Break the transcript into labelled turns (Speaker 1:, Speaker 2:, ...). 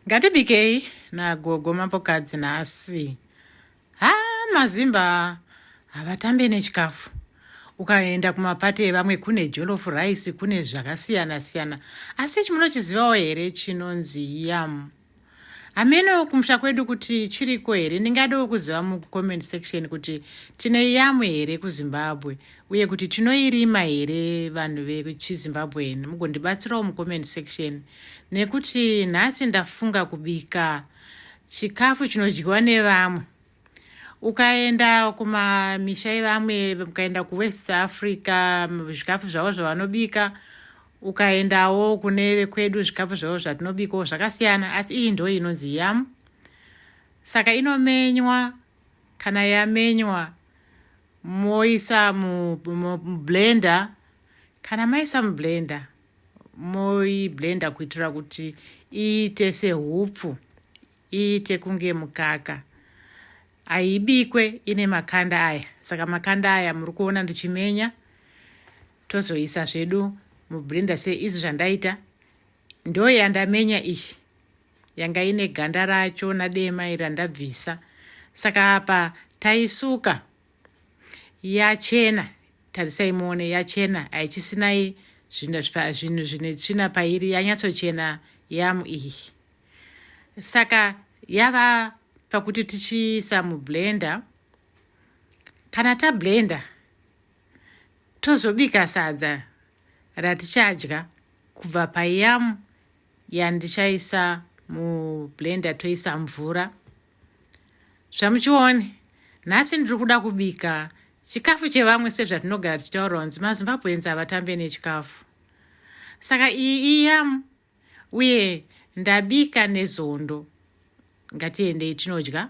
Speaker 1: Ngatibikei nagogo mambokadzi nhasi. Ha mazimba havatambe nechikafu. Ukaenda kumapate evamwe kune jolof rice kune zvakasiyana siyana. Asi chimunochizivawo here chinonzi yam. Hameno kumusha kwedu kuti chiriko here. Ndingadawo kuziva mucomment section kuti tine yamu here kuZimbabwe uye kuti tinoirima here vanhu vechizimbabwean mugondibatsirawo mucomment section nekuti nhasi ndafunga kubika chikafu chinodyiwa nevamwe ukaenda kumamisha ivamwe ukaenda kuwest africa zvikafu zvavo zvavanobika ukaendawo kune vekwedu zvikafu zvavo zvatinobikawo zvakasiyana asi iyi ndo inonzi yam saka inomenywa kana yamenywa moisa mublender kana maisa mublender moiblender kuitira kuti iite sehupfu iite kunge mukaka haibikwe ine makanda aya saka makanda aya muri kuona ndichimenya tozoisa zvedu mublender seizvi zvandaita ndoyandamenya iyi yanga ine ganda racho nadema iri randabvisa saka apa taisuka yachena tarisai muone yachena haichisinai zvinhu zvine tsvina pairi yanyatsochena yamu iyi saka yava pakuti tichiisa mublender kana tablender tozobika sadza ratichadya kubva payamu ya ndichaisa mublender toisa mvura zvamuchione nhasi ndiri kuda kubika chikafu chevamwe sezvatinogara tichitaura kunzi mazimbabweans havatambe nechikafu saka iyi iyam uye ndabika nezondo ngatiendei tinodya